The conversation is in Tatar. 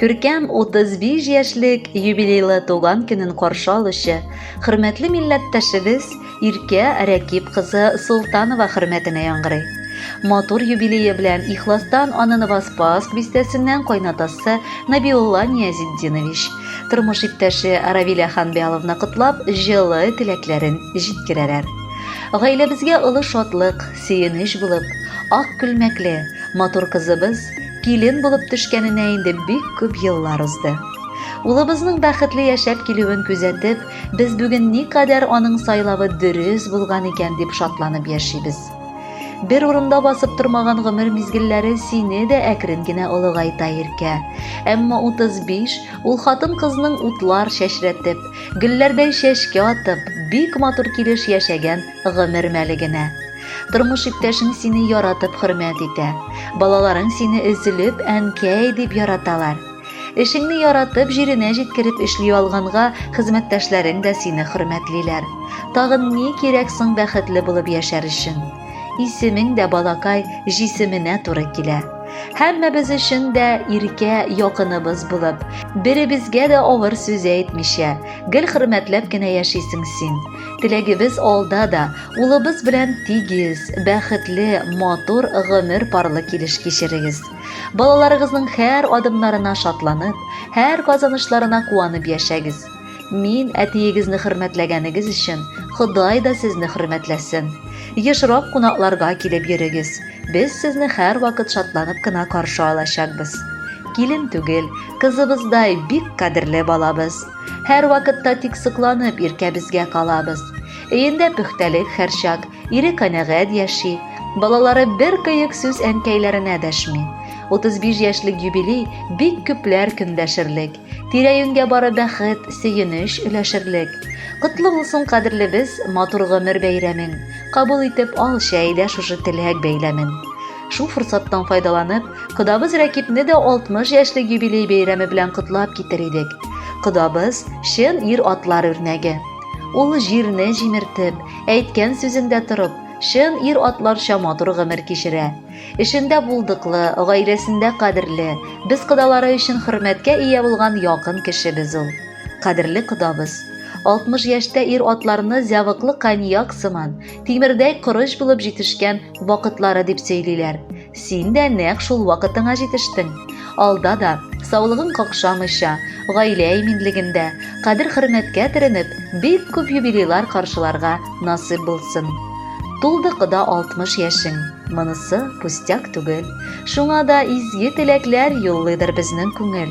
Күркәм 35 яшьлек юбилейлы туган көнен каршы алучы хөрмәтле милләттәшебез Иркә Рәкип кызы Солтанова хөрмәтенә яңгырый. Матур юбилее белән ихластан аны Новоспаск бистәсеннән кайнатасы Набиулла Ниязетдинович, тормыш иптәше Равилә Ханбяловна котлап, җылы теләкләрен җиткерәләр. Гаиләбезгә олы шатлык, сөенеч булып, ак күлмәкле, матур кызыбыз Килен булып төшкәненә инде бик күп еллар узды. Улыбызның бәхетле яшәп килүен күзәтеп, без бүген никадәр аның сайлавы дөрес булган икән дип шатланып яшибез. Бер урында басып тормаган гомер мизгелләре сине дә әкрен генә олыгайта, Иркә. Әмма 35 ул хатын-кызның утлар чәчрәтеп, гөлләрдәй чәчкә атып, бик матур килеш яшәгән Гомер мәле генә. Тормыш иптәшең сине яратып хөрмәт итә. Балаларың сине өзелеп әнкәй дип яраталар. Эшеңне яратып, җиренә җиткереп эшли алганга, хезмәттәшләрең дә сине хөрмәтлиләр. Тагын ни кирәк соң бәхетле булып яшәр өчен? Исемең дә балакай җисеменә туры килә. Һәммәбез өчен дә иркә якыныбыз булып, беребезгә дә авыр сүз әйтмичә, гел хөрмәтләп кенә яшисең син. Теләгебез алда да, улыбыз белән тигез, бәхетле, матур гомер парлы килеш кичерегез. Балаларыгызның һәр адымнарына шатланып, һәр казанышларына куанып яшәгез. Мин әтиегезне хөрмәтләгәнегез өчен Ходай да сезне хөрмәтләсен. Ешрак кунакларга килеп йөрегез. Без сезне һәрвакыт шатланып кына каршы алачакбыз. Килен түгел, кызыбыздай бик кадерле балабыз. Һәрвакытта тик сокланып иркәбезгә калабыз. Өендә пөхтәлек һәрчак, ире канәгать яши, балалары бер кыек сүз әнкәйләренә дәшми. 35 яшьлек юбилей бик күпләр көндәшерлек. Тирә-юньгә бары бәхет, сөенеч өләшерлек. Котлы булсын кадерлебез матур гомер бәйрәмең. Кабул итеп ал чәй дә шушы теләк бәйләмен. Шул форсаттан файдаланып, кодабыз Рәкипне дә 60 яшьлек юбилей бәйрәме белән котлап китер идек. Кодабыз чын ир атлар үрнәге. Ул җирне җимертеп, әйткән сүзендә торып, чын ир атларча матур гомер кичерә. Эшендә булдыклы, гаиләсендә кадерле, без кодалары өчен хөрмәткә ия булган якын кеше без ул. Кадерле кодабыз! 60 яшьтә ир атларны зәвыклы коньяк сыман, Тимердәй корыч булып җитешкән вакытлары дип сөйлиләр. Син дә нәкъ шул вакытыңа җитештең. Алда да, саулыгың какшамыйча, гаилә иминлегендә, кадер-хөрмәткә төренеп, бик күп юбилейлар каршыларга насыйп булсын. Тулды кода 60 яшең. Монысы пустяк түгел. Шуңа да изге теләкләр юллыйдыр безнең күңел.